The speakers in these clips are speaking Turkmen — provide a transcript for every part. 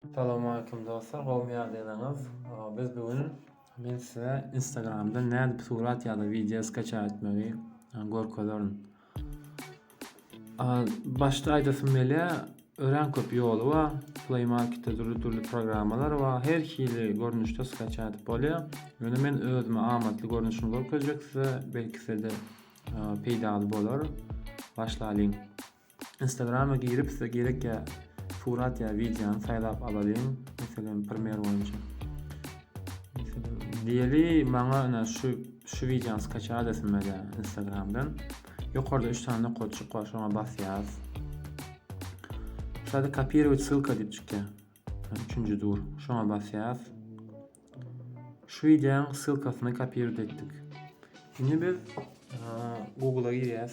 Salowmalikim dostlar gowmy ýagdaýlaryňyz biz bu gün men size instagramda nädip surat ýa-da wideo skaça etmegi görkezerin. Başda aýdasym gelýä örän köp ýoly bar. Play marketde dürli-dürli programmalar bar. Her hili görnüşde skaça edip bolýar. Ýöne men özüme amatly görnüşini görkezjek size belki size-de peýdaly bolar. Başlaýyň. Instagrama girip size gerek ya surat ya videony saýlap alalyň. Meselem primer boýunça. Diýeli maňa ina şu şu videony skaça adresime de Instagramdan. Ýokarda 3 tane nokatçyk bar, şoňa basýas. Şada kopirowat ssylka diýip çykýar. Üçünji dur. Şoňa basýas. Şu videoň ssylkasyny kopirowat etdik. Indi biz Google-a girýäs.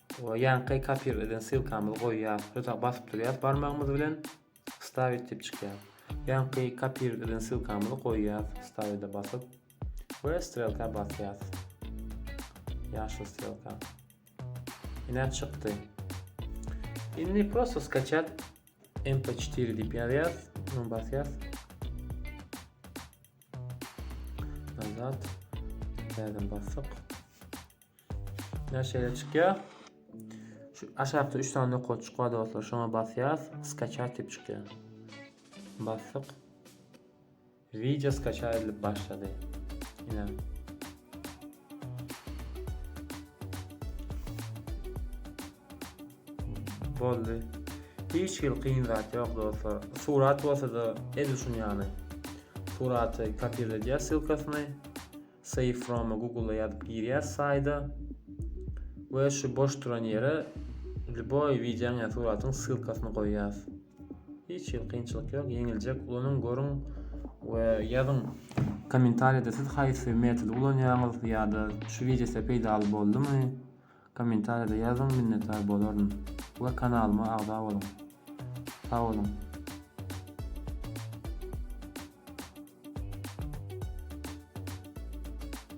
Oňa ýaňky kopir eden ssylkamyzy goýýas we ta basyp durýas barmagymyz bilen stavit diýip çykýar. Ýaňky kopir eden ssylkamyzy goýýas stavide basyp we strelka basýas. Ýaşyl strelka. Ine çykdy. Indi prosto skaçat mp4 diýip ýazýas, bunu basýas. Nazat. Täzeden basdyk. Näşeýle çykýar? Şu aşakda 3 sany nokatjyk bar dostlar. Şoňa basýas, skaçat diýip çykýar. Basdyk. Wideo skaçat edilip başlady. Ine. Boldy. Hiç hil kyn zat ýok dostlar. Surat bolsa-da edil şuny ýaly. Suraty kopirledýär ssylkasyny. Save from-a Google-a ýazyp girýäs saýda we şu boş duran ýere lýuboý wideoň ýa suratyň ssylkasyny goýýas. Hiç hil kynçylyk ýok, ýeňiljek. Ulanyň, görüň we ýazyň kommentariýada siz haýsy metody ulanýaňyz ýa-da şu wideo size peýdaly boldumy? Kommentariýada ýazyň minnetdar bolaryn we kanalyma agza boluň. Sag boluň.